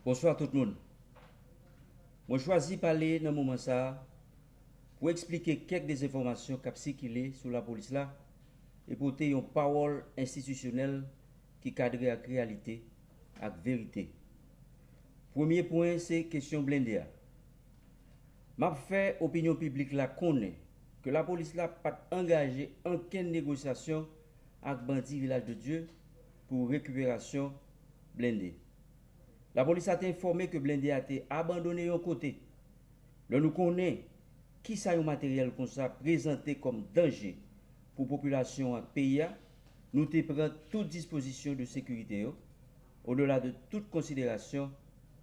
Bonswa tout moun! Mwen chwazi pale nan moman sa a pou eksplike kèk dezenfòmasyon k ap sikile sou lapolis la e pote yon pawòl enstitisyonèl ki kadre ak reyalite ak verite. Premye pwen se kesyon blende a. M ap fè opinyon piblik la konnen ke lapolis la pa t angaje ankenn negosyasyon ak bandi Vilaj de Dye pou rekiperasyon blende. Lapolis la te enfòme ke blende a te abandone yon kote. Lè nou konnen kisa yon materyèl konsa prezante kòm danje pou popilasyon ak peyi a, nou te pran tout dispozisyon de sekirite yo, odela de tout konsiderasyon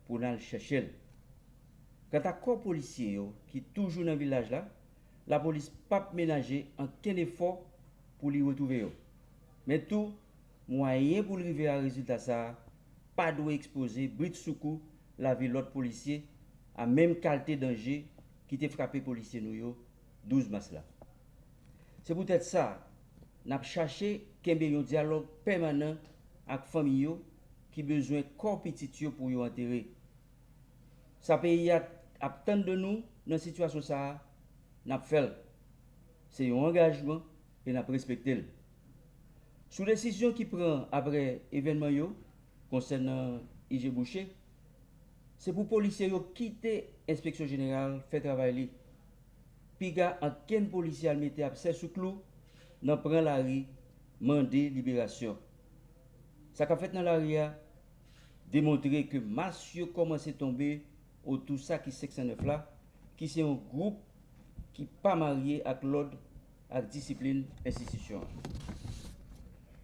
pou n al chèche l. Kanta kò polisye yo ki toujou nan vilaj la, lapolis pap menaje ankenn efò pou li retwouve yo. Men tou, Mwayen pou l rive a rezilta sa a pa dwe ekspoze britsoukou lavi lòt polisye a menm kalte danje ki te frape polisye nou yo 12 mas la. Se poutèt sa, n ap chache kenbe yon dyalòg pèmanan ak fanmi yo ki bezwen kò pitit yo pou yo antere. Sa peyi a ap tann de nou nan sitiyasyon sa a, n ap fè l. Se yon angajman e n ap respekte l. Sou desizyon ki pran aprè evènman yo konsènan IG Boucher, se pou polisye yo kite enspeksyon jeneral fè travay li. Piga ankenn polisye al mete abse sou klou nan pran lari mande liberasyon. Sa k ap fèt nan lari a demontre ke mas yo kòmanse tonbe otou sa ki 509 la ki se yon gwoup ki pa marye ak lòd ak disiplin enstitisyon an.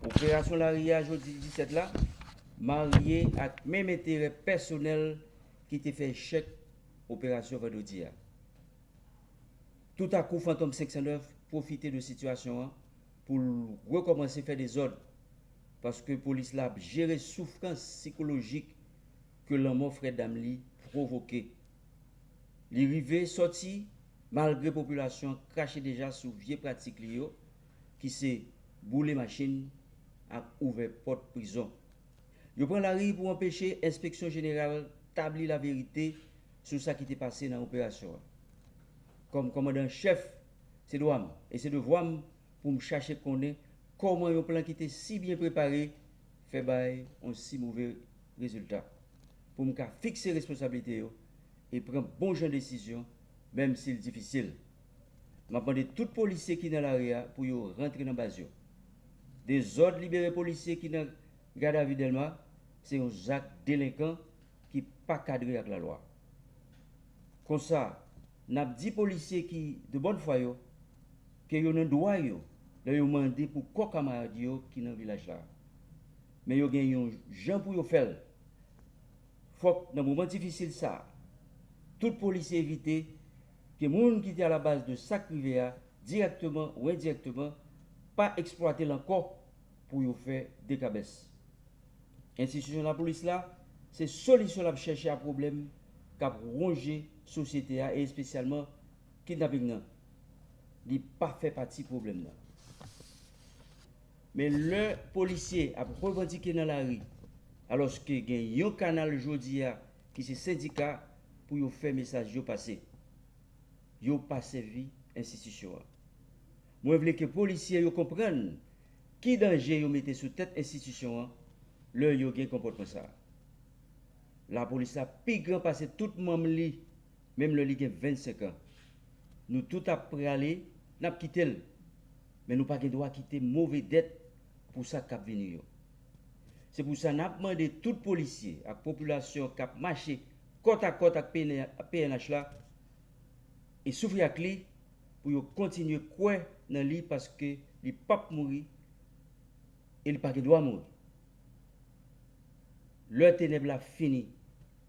Operasyon lari a jodi 17 la marye ak menm enterè pèsonèl ki te fè echèk operasyon vandredi a. Toutakou Fantom 509 pwofite de sitiyasyon an pou l rekòmanse fè dezòd paske polis la ap jere soufrans sikolojik ke lanmò frè dam li pwovoke. Li rive sòti malgre popilasyon an krache deja sou vye pratik li yo ki se boule machin ak ouvè pòt prizon. Yo pran lari pou anpeche enspeksyon jeneral tabli laverite sou sa ki te pase nan operasyon an. Kòm kòmandan an chèf, se dwa m e se devwa m pou m chache konnen kòman yon plan ki te si byen prepare fè bay yon si move rezilta, pou m ka fikse responsablite yo e pran bon jan desizyon menm si l difisil. M ap mande tout polisye ki nan lari a pou yo rantre nan baz yo. Dezòd libere polisye ki nan gadavi Dèlma se yon zak delenkan ki pa kadre ak lalwa. Konsa, n ap di polisye ki de bòn fwa yo ke yo nan dwa yo lè yo mande pou kò kamarad yo ki nan vilaj la. Men yo gen yon jan pou yo fè l. Fòk nan moman difisil sa a, tout polisye evite ke moun ki te alabaz de sa k rive a, dirèkteman ou endirèkteman, pa eksplwate l ankò pou yo fè dekabès. Enstitisyon lapolis la, se solisyon l ap chèche a pwoblèm k ap wonje sosyete a e espesyalman kidnaping nan. Li pa fè pati pwoblèm nan. Men lè polisye ap revandike nan lari alòske gen yon kanal jodi a ki se sendika pou yo fè mesaj yo pase. Yo pa sèvi enstitisyon an. Mwen vle ke polisye yo konprann ki danje yo mete sou tèt enstitisyon an lè yo gen konpòtman sa a. Lapolis la pi gran pase tout manm li. menm lè li gen 25 an. Nou tout ap prale, n ap kite l. Men nou pa gen dwa kite move dèt pou sa k ap vini yo. Se pou sa n ap mande tout polisye ak popilasyon k ap mache kòtakòt ak pnh la e soufri ak li pou yo kontinye kwè nan li paske li p ap mouri e li pa gen dwa mouri. Lè tenèb la fini.